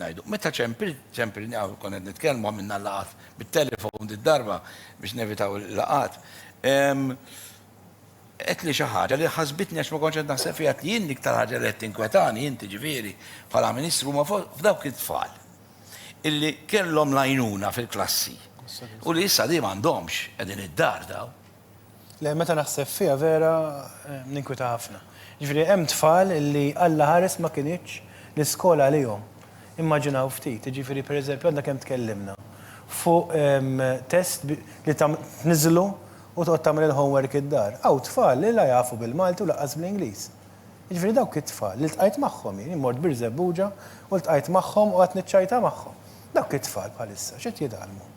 ngħidu. Meta ċempilni hawn, konna qed nitkellmu, għamilna l-laqgħat bit-telefon did-darba biex nevitaw il-laqgħat, għedtli xi ħaġa li ħasbitni għax ma kontx qed naħseb fiha, għedtli jien l-iktar ħaġa li qed tinkwetani inti ġifieri bħala Ministru huma f'dawk it-tfal illi kellhom l-għajnuna fil-klassi u li issa di m'għandhomx, qegħdin id-dar dawn. Le, meta naħseb fiha vera ninkwita ħafna. Jiġifieri hemm tfal li Alla ħares ma kinitx l-iskola għalihom. Immaġinaw ftit, jiġifieri pereżempju għadna kemm tkellimna fuq test li tniżżlu u toqgħod tagħmel il-homework id-dar. Hawn tfal li la jafu bil-Malti u lanqas bl-Ingliż. Jiġifieri dawk it-tfal li ltqajt magħhom jien, jien mort Birżebbuġa u ltqajt magħhom u qgħadt niċċajta magħhom. Dawk it-tfal bħalissa x'qed jitgħallmu?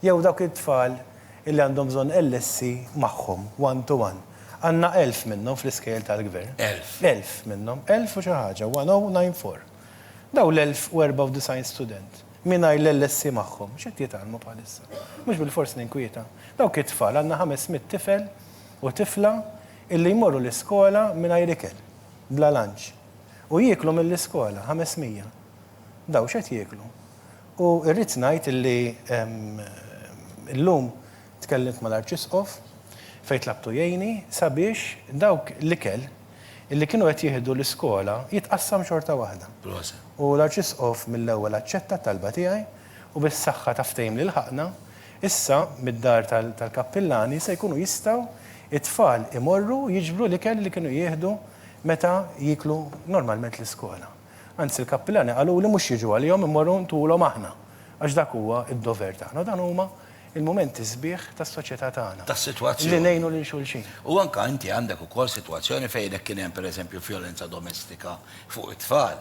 Jew dawk it-tfal illi għandhom bżonn LSC magħhom, one to one. Għandna elf minnhom fl-iskejjel tal-Gvern. Elf. Elf minnhom. Elf u xi ħaġa, one o nine four. Dawn l-elf u erbgħa u disgħin student, mingħajr l-LSC magħhom, x'qed jitgħallmu bħalissa? Mhux bilfors ninkwieta. Dawk it-tfal, għandna ħames mitt tifel u tifla illi jmorru l-iskola mingħajr ikel, bla lunch. U jieklu mill-iskola, ħames mija. Daw x'qed jieklu? U irrid ngħid illi llum tkellimt mal-Arċisqof fejn tlabtu jgħinni sabiex dawk l-ikel illi kienu qed jieħdu l-iskola jitqassam xorta waħda. U l-Arċisqof mill-ewwel aċċetta t-talba tiegħi u bis-saħħa ta' ftehim li lħaqna, issa mid-dar tal-kappillani se jkunu jistgħu t-tfal imorru jiġbru l-ikel li kienu jieħdu meta jieklu normalment l-iskola. Anzi l-kappilani qaluli mhux jiġu għalihom immorru ntulhom aħna għax dak huwa d-dover tagħna u dan huma l-mumenti sbieħ tas-soċjetà tagħna li ngħinu lil xulxin. U anke inti għandek ukoll sitwazzjoni fejn jekk kien hemm pereżempju vjolenza domestika fuq it-tfal,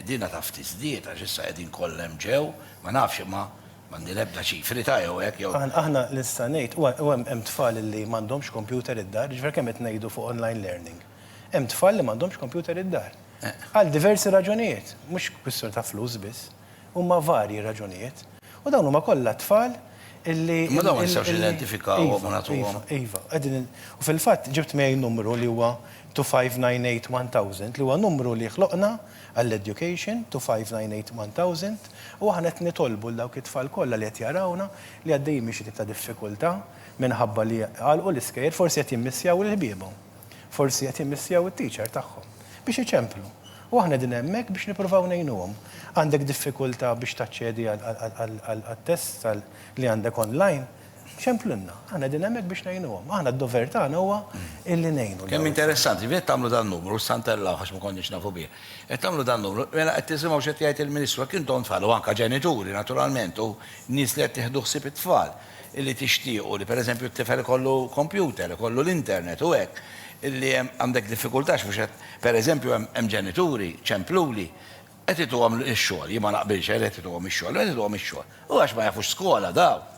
dinha taf tiżdied għax issa qegħdin kollha hemm ġew, ma nafx imma m'għandi l-ebda ċifri ta' jew hekk jew. Aħna li nista' ngħid u hemm tfal li m'għandhomx kompjuter id-dar, jiġifieri kemm qed ngħidu fuq online learning. Hemm tfal li m'għandhomx kompjuter id-dar. Għal diversi raġunijiet, mhux kwistjoni ta' flus biss, huma varji raġunijiet. U dawn huma kollha tfal illi. Imma dawn ma nistgħux nidentifikawhom u nagħtuhom. Iva, iva. U fil-fatt ġibt miegħi numru li huwa 259811000 li huwa numru li ħloqna għall-education, 259811000, u aħna qed nitolbu lil dawk it-tfal kollha li qed jarawna li għaddejjin minn xi tip ta' diffikultà minħabba li għalqu l-iskejjel forsi qed jimmissjaw lil ħbiebhom. Forsi qed jimmissjaw it-teacher tagħhom biex iċemplu. U aħna qegħdin hemmhekk biex nippruvaw ngħinuhom. Għandek diffikultà biex taċċedi għat-tests li għandek online? Ċemplilna. Aħna qegħdin hemmhekk biex ngħinuhom. Aħna d-dover tagħna huwa illi ngħinu. Kemm interessanti, qed tagħmlu dan numru, issa ntellgħuh għax ma konniex nafu bih. Qed tagħmlu dan numru, mela qed tisimgħu x'qed jgħid il-Ministru, jekk intom tfal u anke ġenituri naturalment u nies li qed tieħdu ħsieb it-tfal, illi tixtiequ li pereżempju t-tifel ikollu kompjuter, ikollu l-internet u hekk, illi hemm għandek diffikultà għax mhux qed, pereżempju hemm hemm ġenituri, ċempluli, qed ituhom ix-xogħol, jien ma naqbilx għalih qed ituhom ix-xogħol, imma qed ituhom ix-xogħol. U għax ma jafux skola dawn.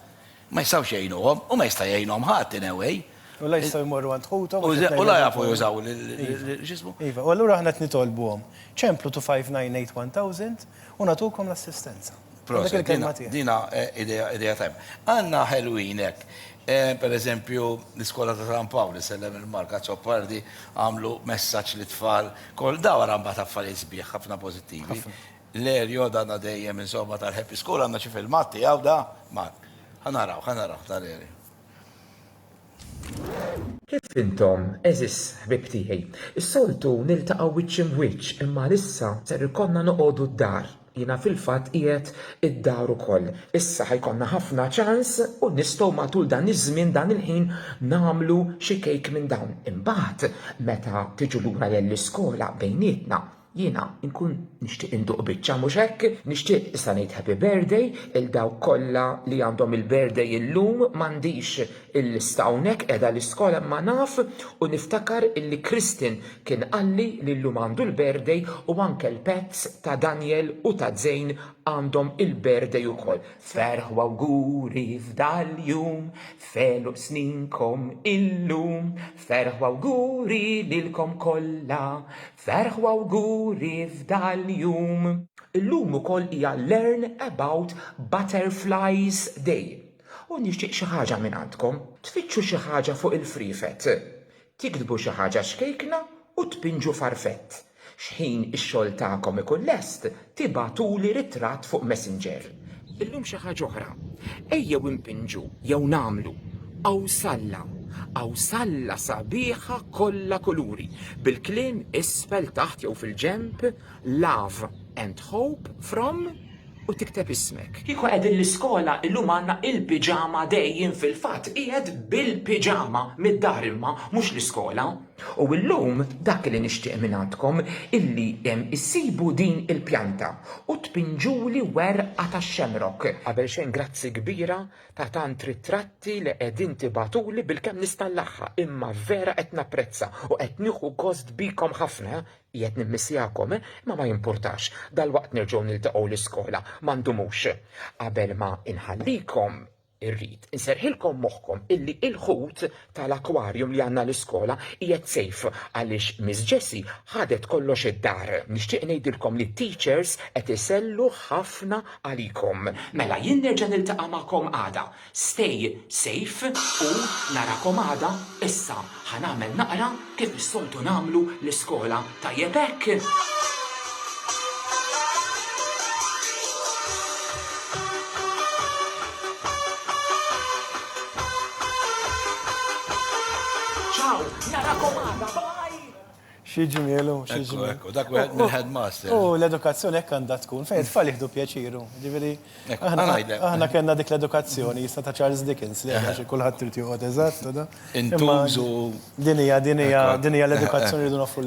Ma jistgħux jgħinuhom u ma jista' jgħinhom ħadd in a way. U la jistgħu jmorru għand ħuthom għax qed ngħidilkom. U la jafu jużaw l-, x'ismu? Iva, u allura aħna qed nitolbuhom. Ċemplu 259 8 1000, U nagħtukom l-assistenza. Proset, dina ideja tajba. Għanna ħelwin hekk. Eh, per eżempju, l-iskola ta' San Pawl, sellem il-marka Zoppardi, għamlu messaċ li tfal, kol daw għara mbat affarijiet sbieħ, ħafna pozittivi. L-erjo dana dejjem insomma tal-Happy School għanna xi filmat tiegħu da, mat. Ħanaraw, ħanaraw tal-erjo. Kif intom, għeżież ħbieb tiegħi? Is-soltu niltaqgħu wiċċ im'wiċċ imma għalissa ser ikollna noqogħdu d-dar. Jiena fil-fatt qiegħed id-dar ukoll. Issa ħa jkollna ħafna ċans u nistgħu matul dan iż-żmien dan il-ħin nagħmlu xi kejk minn dawn. Imbagħad meta tiġu lura lell-iskola bejnietna. Jiena nkun nixtieq induq biċċa mhux hekk, nixtieq issa ngħid happy birthday il dawk kollha li għandhom il-birthday illum m'għandix il-lista hawnhekk qiegħda l-iskola imma naf u niftakar illi Kristin kien qalli li llum għandu l-birthday u anke l-pets ta' Daniel u ta' Zein għandhom il-birthday ukoll. Ferħ u awguri f'dal-jum, f'għeluq sninkom illum, ferħ u awguri lilkom kollha, Ferħ u awguri f'dal-jum! Illum ukoll hija Learn About Butterflies Day u nixtieq xi ħaġa minn għandkom. Tfittxu xi ħaġa fuq il-friefet. Tiktbu xi ħaġa xkejkna u tpinġu farfett. Xħin ix-xogħol tagħkom ikun lest, Tibagħtuli ritratt fuq Messenger. Illum xi ħaġa oħra. Ejjew impinġu jew nagħmlu qawsalla, qawsalla sabiħa kollha kuluri, bil-kliem isfel taħt jew fil-ġenb Love and Hope from u tikteb ismek. Kieku qegħdin l-iskola illum għandna il-piġama day jien fil-fatt qiegħed bil-piġama mid-dar imma mhux l-iskola. U illum dak li nixtieq mingħandkom illi issibu din il-pjanta u tpinġuli werqa tax-xemrok. Qabel xejn grazzi kbira ta' tant ritratti li qegħdin tibagħtuli bilkemm nista' nlaħħa imma vera qed napprezza u qed nieħu gost bikom ħafna, qiegħed nimmissjakom imma ma jimpurtax, dalwaqt nerġgħu niltaqgħu l-iskola ma ndumux. Qabel ma inħallikom. irrid inserħilkom moħħkom illi il-ħut tal-akwarjum li għandna l-iskola qiegħed sejf għaliex Miss Jessi ħadet kollox id-dar. Nixtieq ngħidilkom li t-teachers qed isellu ħafna għalikom. Mela jien nerġa' niltaqa' magħkom għada. Stay safe u narakom għada issa Ħa nagħmel naqra kif is-soltu nagħmlu l-iskola. Tajjeb hekk? Xi ġmielu, xi ġmielu. Ekku, dak wieħed mill-headmaster. U l-edukazzjoni hekk għandha tkun, fejn tfal jieħdu pjaċiru. Ġifieri, aħna kellna dik l-edukazzjoni jista' ta' Charles Dickens li għax kulħadd trid joqgħod eżatt. Intużu. Din hija, din hija, din hija l-edukazzjoni li dun offru